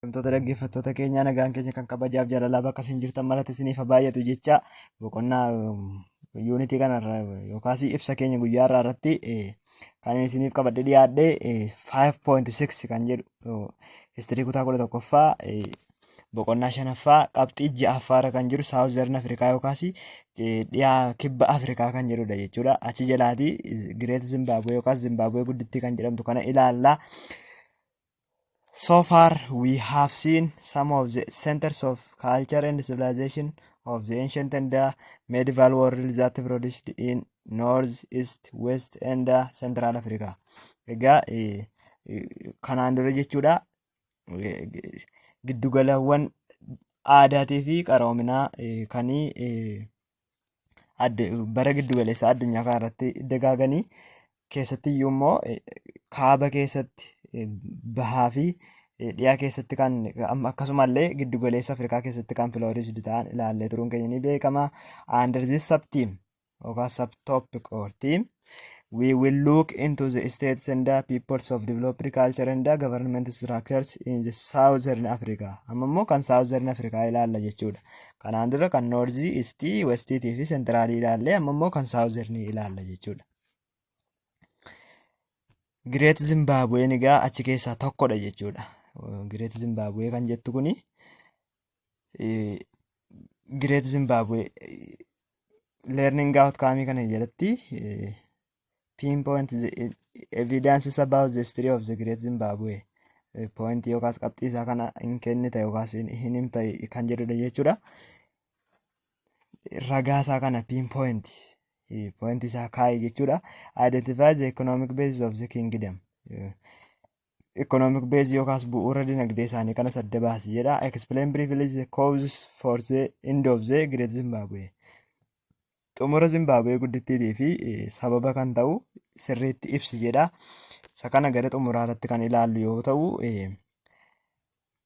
Himtoota dhaggeeffattoota keenyaa nagaan keenya kan kabajaaf jaalalaa bakka isin jirtan maratti isiniif haa baay'atu jecha boqonnaa yuunitii kanarra yookaas ibsa keenya guyyaa irraa irratti kan isiniif qabadhe dhiyaadhe 5.6 kan jedhu histirii kutaa 11ffaa boqonnaa shanaffaa qabxii ja'affaa irra kan jiru saawuzarn afrikaa yookaas dhiyaa kibba afrikaa kan jedhudha jechuudha achi jalaatii gireet zimbaabuwee yookaas zimbaabuwee guddittii kan jedhamtu kana ilaallaa. So far, we have seen some of the centers of culture and civilization of the ancient and the medieval world that produced in North, East, West and the Central Africa. Egaa eh, eh, kanaan dura jechuudha eh, g- giddugalawwan aadaatii fi qaroominaa eh, kanii eh, bara giddu galeessaa addunyaa kana irratti dagaaganii keessatti iyyuu immoo kaaba keessatti bahaa fi dhiyaa keessatti kan akkasumallee giddu galeessa Afrikaa keessatti kan filoorisdi ta'an ilaallee turuun keenya ni beekama. Under this subteam yookaan subtopic or team We will look into the states and the peoples of developed culture and the government structures in the southern Africa. Amma immoo kan southern Africa ilaalla jechuudha. Kanaan dura kan north, east, west fi central ilaalle amma immoo kan southern ilaalla jechuudha. Great Zimbabwe egaa achi keessaa tokkodha jechuudha. Great Zimbabwe kan jettu kuni Great Zimbabwe learning outcome kana jalatti pinpoint the evidences about the history of the great Zimbabwe point yookaas qabxii isaa kana hin kennita yookaas hin himta kan jedhudha jechuudha. Ragaa isaa kana pinpoint point isaa kaa'i jechuudha. Identify the economic basis of the kingdom. economic base yookaas bu'uura dinagdee isaanii kanas adda baasi jedha. Explain briefly the causes for the end of the Great Zimbabwe. Xumura Zimbabwe guddittiitii fi eh, sababa kan ta'u sirriitti ibsi jedha. Isa kana gara xumuraa irratti kan ilaallu yoo ta'u eh,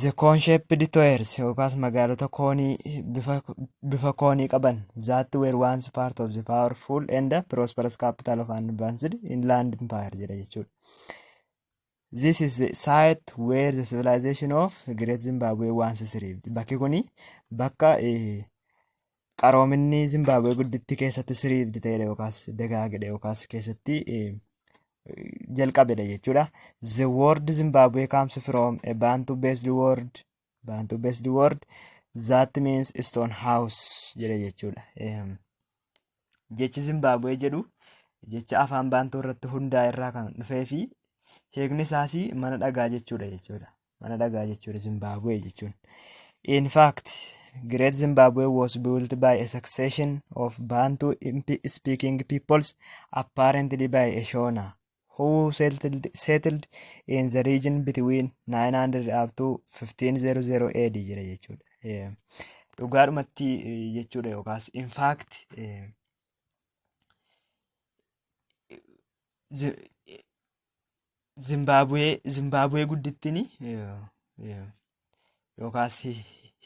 The cone shaped toyers yookaas magaalota koonii bifa, bifa koonii qaban that were once part of the powerful and prosperous capital of an advanced inland empire jedha jechuudha. This is the site where the civilization of Great Zimbabwe once thrived. Bakki kuni bakka eh, qaroominni Zimbaabuwee guddittii keessatti siriivdi ta'edha yookaas dagaagedha yookaas keessatti jalqabedha jechuudha. The word Zimbabwe comes from a Bantu based word Bantu based word that means stone house jedha jechuudha. Jechi Zimbaabuwee jedhu jecha afaan Baantuu irratti hundaa'e irraa kan dhufee fi hiikni isaas mana dhagaa jechuudha jechuudha. mana dhagaa jechuudha Zimbaabuwee jechuun. In fact, Great Zimbabwe was built by a succession of Bantu imp- speaking peoples, apparently by a Shona, who settled, settled in the region between 900 up to 1500 AD jira jechuudha. Eh, Dhugaadhumatti eh, jechuudha yookaas in fact eh, Zi- Zimbaabuwee Zimbaabuwee guddittiin yookaas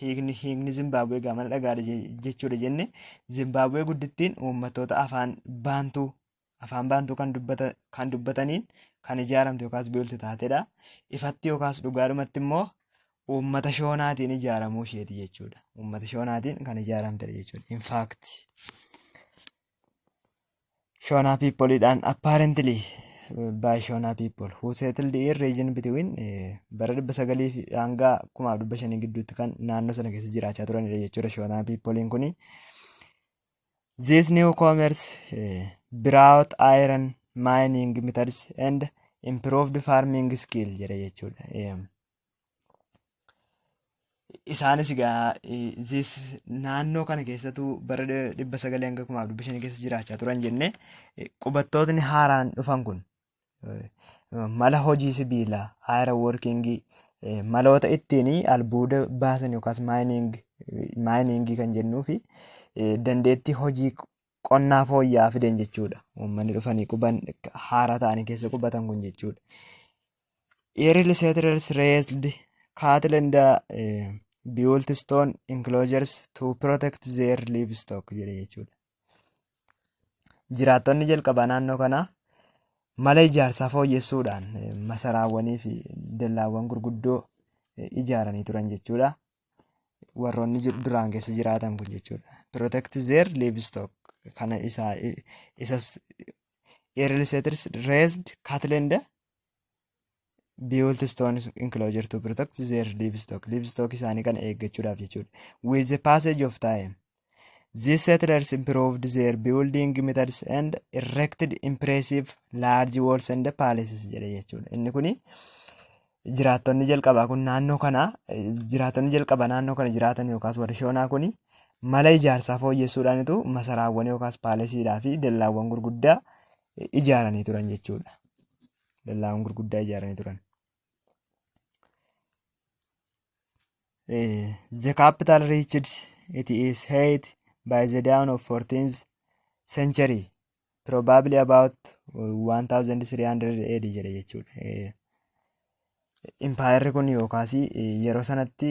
hiikni hiikni Zimbaabuwee gaamana dhagaadha jechuudha jenne Zimbaabuwee guddittiin uummattoota afaan baantuu afaan baantuu kan dubbata kan dubbataniin kan ijaaramte yookaas biiltu taatedha. Ifatti yookaas dhugaadhumatti immoo uummata shoonaatiin ijaaramuu isheeti jechuudha. Uummata shoonaatiin kan ijaaramtedha jechuudha. Infaakti. Shona people dhaan apparently by Shona people who settled in region between eh, bara 900 fi hanga 1500 gidduutti kan naannoo sana keessa jiraachaa turanidha jechuudha Shona people'n kuni. These newcomers eh, brought iron mining methods and improved farming skill jedha jechuudha. Eh, Isaanis egaa zis naannoo kana keessattuu bara dhibba sagalii hanga kumaaf dhibba shanii keessa jiraachaa turan jennee qubattootni haaraan dhufan kun mala hojii sibiilaa aayira woorkingii maloota ittiin albuuda baasan yookaas maayiniingii kan jennuu fi dandeettii hojii qonnaa fooyya'aa fiden jechuudha. Uummanni dhufanii quban haaraa ta'anii keessa qubatan kun jechuudha. Eeril seetirels reesd kaatilenda built stone enclosures to protect their livestock jedhe jechuudha. Jiraattonni jalqabaa naannoo kanaa mala ijaarsaa fooyyessuudhaan masaraawwanii fi dallaawwan gurguddoo ijaaranii turan jechuudha. warroonni jiru duraan keessa jiraatan kun jechuudha. Protect their livestock kana isa isas early settlers raised cattle and built stone enclosure to protect their livestock livestock isaanii kana eeggachuudhaaf jechuudha. With the passage of time These settlers improved their building methods and erected impressive large walls and palaces jedhe jechuudha. Inni kun jiraattonni jalqabaa kun naannoo kana jiraattonni jalqabaa naannoo kana jiraatan yookaas warri shoonaa kun mala ijaarsaa fooyyessuudhaanitu masaraawwan yookaas paalesiidhaa fi dallaawwan gurguddaa ijaaranii turan jechuudha. Dallaawwan gurguddaa ijaaranii turan. Eh, the capital reached it is height by the dawn of 14th century probably about uh, 1300 AD jedhe jechuudha. Eh, Impaayerri kun yookaas eh, yeroo sanatti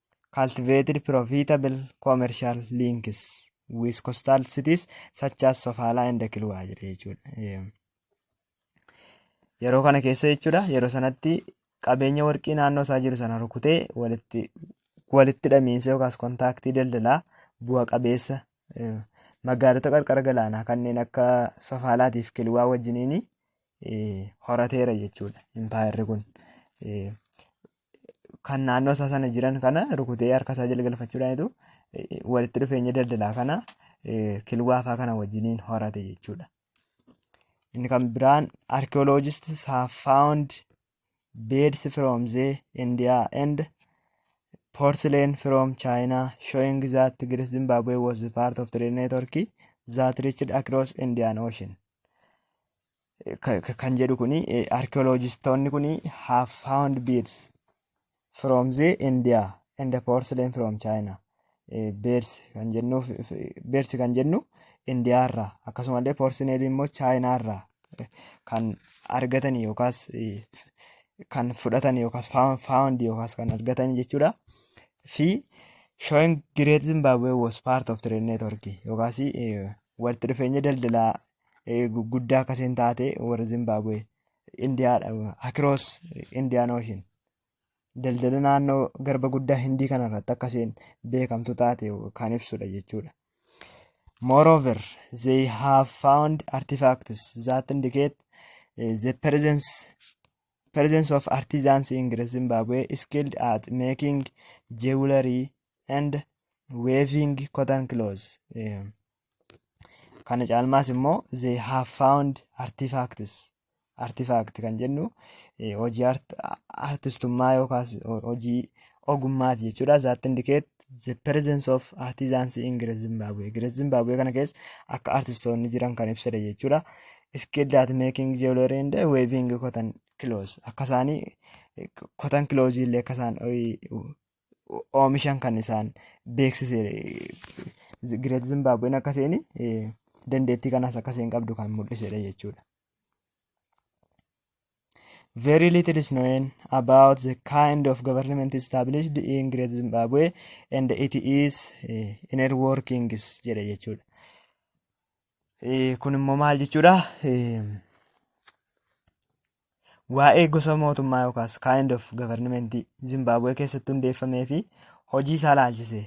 cultivated profitable commercial links with coastal cities such as Sofala and Kilwa jedhe jechuudha. Yeroo kana keessa jechuudha yeroo sanatti qabeenya warqii naannoo isaa jiru sana rukutee walitti walitti hidhamiinsa yookaas kontaaktii daldalaa bu'a qabeessa magaalota qarqara galaanaa kanneen akka Sofaalaatiif Kilwaa wajjiniin horateera jechuudha impaayerri kun. kan naannoo isaa sana jiran kana rukutee harka isaa jala galfachuudhaanitu walitti dhufeenya daldalaa kana kilwaafaa kana wajjiniin horate jechuudha. Inni kan biraan archaeologists have found beads from the India and porcelain from China showing that Tigris Zimbabwe was part of trade network that reached across Indian Ocean. kan jedhu kuni archaeologistoonni kuni have found beads from the India and the porcelain from China. Beads kan jennu beads kan jennu India irraa akkasumallee porcelain immoo China irraa kan argatan yookaas kan fudhatan yookaas found yookaas kan argatan jechuudha. Fi showing Great Zimbabwe was part of trade network yookaas walitti dhufeenya daldalaa guddaa akkasiin taate warri Zimbaabuwee Indiyaadha akiroos Indiyaan ooshin daldala naannoo garba guddaa Hindii kanarratti akkasiin beekamtu taate kan ibsudha jechuudha. Moreover, they have found artifacts that indicate eh, the presence presence of artisans in Great Zimbabwe skilled at making jewelry and weaving cotton clothes. Eh, Kana caalmaas immoo they have found artifacts artifact kan jennu eh, hojii art- artistummaa yookaas ho- hojii ogummaati jechuudha. That indicate the presence of artisans in Great Zimbabwe. Great Zimbabwe kana keessa akka artistoonni jiran kan ibsudha jechuudha. Skilled at making jewelry and weaving cotton clothes. Akka isaanii eh, cotton clothes illee akka isaan eh, oomishan kan isaan beeksise Gireet Zimbaabuween akka isheen dandeettii kanaas akka isheen qabdu kan mul'isedha jechuudha. Very little is known about the kind of government established in Great Zimbabwe and it is eh, inner workings jedha jechuudha. Eh, Kun immoo maal jechuudha? Eh, Waa'ee gosa mootummaa yookaas kind of government Zimbaabuwee keessatti hundeeffamee fi hojii isaa laalchisee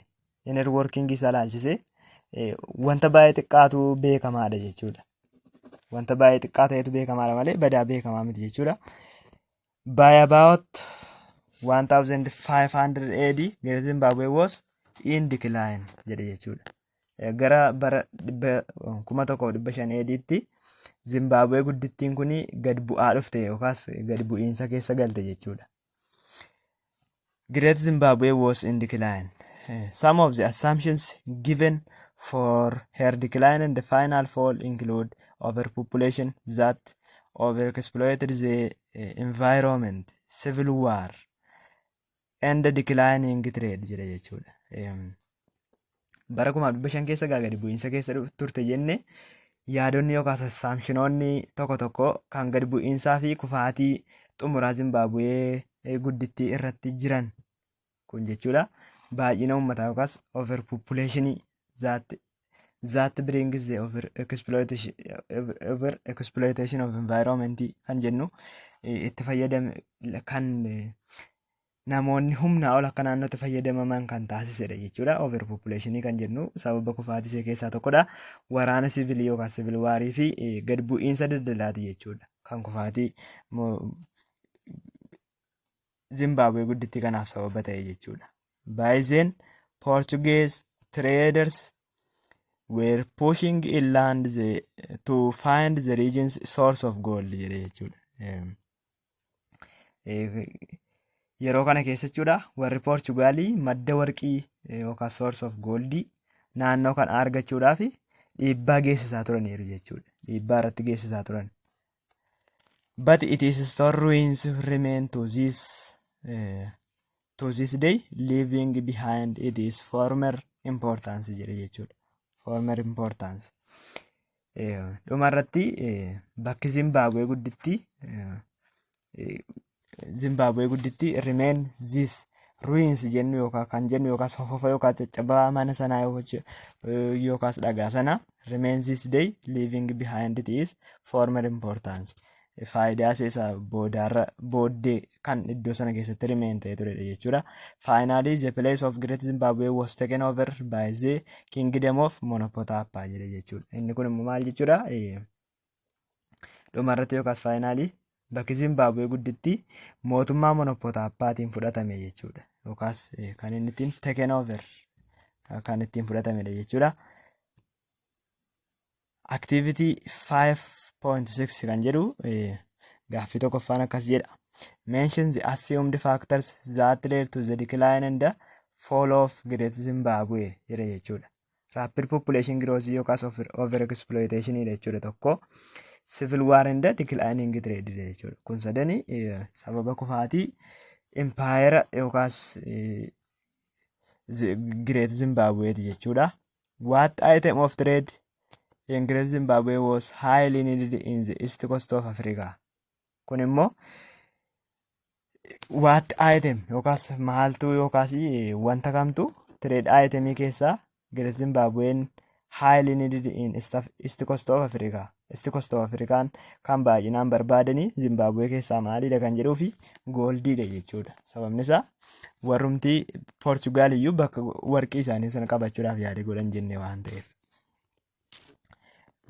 inner working isaa laalchisee wanta baay'ee xiqqaatu beekamaadha jechuudha. Wanta baay'ee xiqqaa ta'etu beekamaadha malee badaa beekamaa miti jechuudha. By about 1500 AD Great Zimbabwe was in decline jedhe jechuudha. Gara bara 1500 AD'tti Zimbaabuwee guddittiin kun gad bu'aa dhufte yookaas gad bu'iinsa keessa galte jechuudha. Great Zimbabwe was in decline. Eh, Some of the assumptions given for her decline and the final fall include overpopulation that overexploited the eh, environment, civil war, and declining trade jira jechuudha. Em, Bara kuma dhibba shan keessa gaa gadi bu'iinsa keessa dhuf- turte jenne yaadonni yookaas assaamshinoonni tokko tokko kan gadi bu'iinsaa fi kufaatii xumuraa Zimbaabuwee eh, guddittii irratti jiran kun jechuudha baay'ina uummataa yookaas overpopulation that that brings the over exploitation over exploitation of environment kan jennu eh, itti fayyadame kan eh, namoonni humnaa ol akka naannootti fayyadamaman kan taasisedha jechuudha. Overpopulationii kan jennu sababa kufaatisee keessaa tokkodha. Waraana sivilii yookaan sivil waarii fi eh, gad bu'iinsa daldalaati jechuudha. Kan kufaatii mo- Zimbabwe guddittii kanaaf sababa ta'e jechuudha. By then Portuguese traders were pushing inland the, to find the region's source of gold jedhe jechuudha. Em, eh, Yeroo kana keessa jechuudha warri Poorchugaalii madda warqii eh, yookaan source of goldii naannoo kana argachuudhaaf dhiibbaa geessisaa turaniiru jechuudha. Dhiibbaa irratti geessisaa turan. but it is store ruins remain to this uh, to this day leaving behind it is former importance jedhe jechuudha former importance dhuma irratti bakki Zimbabwe gudditti Zimbaabuwee gudditti remain this ruins jennu yookaan kan jennu yookaan sofofa yookaan caccabaa mana sanaa yookaan dhagaa sana remain this day leaving behind it is former importance faayidaa isaa boodaarra booddee kan iddoo sana keessatti remain ta'ee turedha jechuudha. Finally the place of Great Zimbabwe was taken over by the kingdom of Monopotapa jedhe jechuudha. Inni kun immoo maal jechuudha? Dhuma irratti yookaas faayinaalii bakki Zimbaabuwee guddittii mootummaa monopotaappaatiin fudhatame jechuudha. Yookaas kan inni ittiin taken over kan ittiin fudhatamedha jechuudha. Activity 5.6 kan jedhu gaaffii tokkoffaan akkas jedha. Mention the assumed factors that led to the decline and the fall of Great Zimbabwe jedha jechuudha. Rapid population growth yookaas over exploitation dha jechuudha tokko. Civil war and declining trade dha jechuudha. Kun sadani sababa kufaatii impaayera yookaas Great Zimbabwe ti jechuudha. What item of trade in Great Zimbabwe was highly needed in the east coast of Africa? Kun immoo waatti item yookaas maaltuu yookaas wanta kamtu trade itemii keessaa Great Zimbabwean highly needed in East Af- East Coast of Africa. East Coast of Africaan kan baay'inaan barbaadanii Zimbabwee keessaa maaliidha kan jedhuu fi gooldiidha jechuudha. Sababni isaa warrumti Portugaal iyyuu bakka warqii isaanii sana qabachuudhaaf yaada godhan jenne waan ta'eef.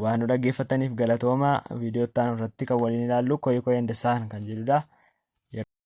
waan nu dhaggeeffataniif galatoomaa viidiyoo itti aanu irratti kan waliin ilaallu koyee koyee hindessaan kan jedhudha.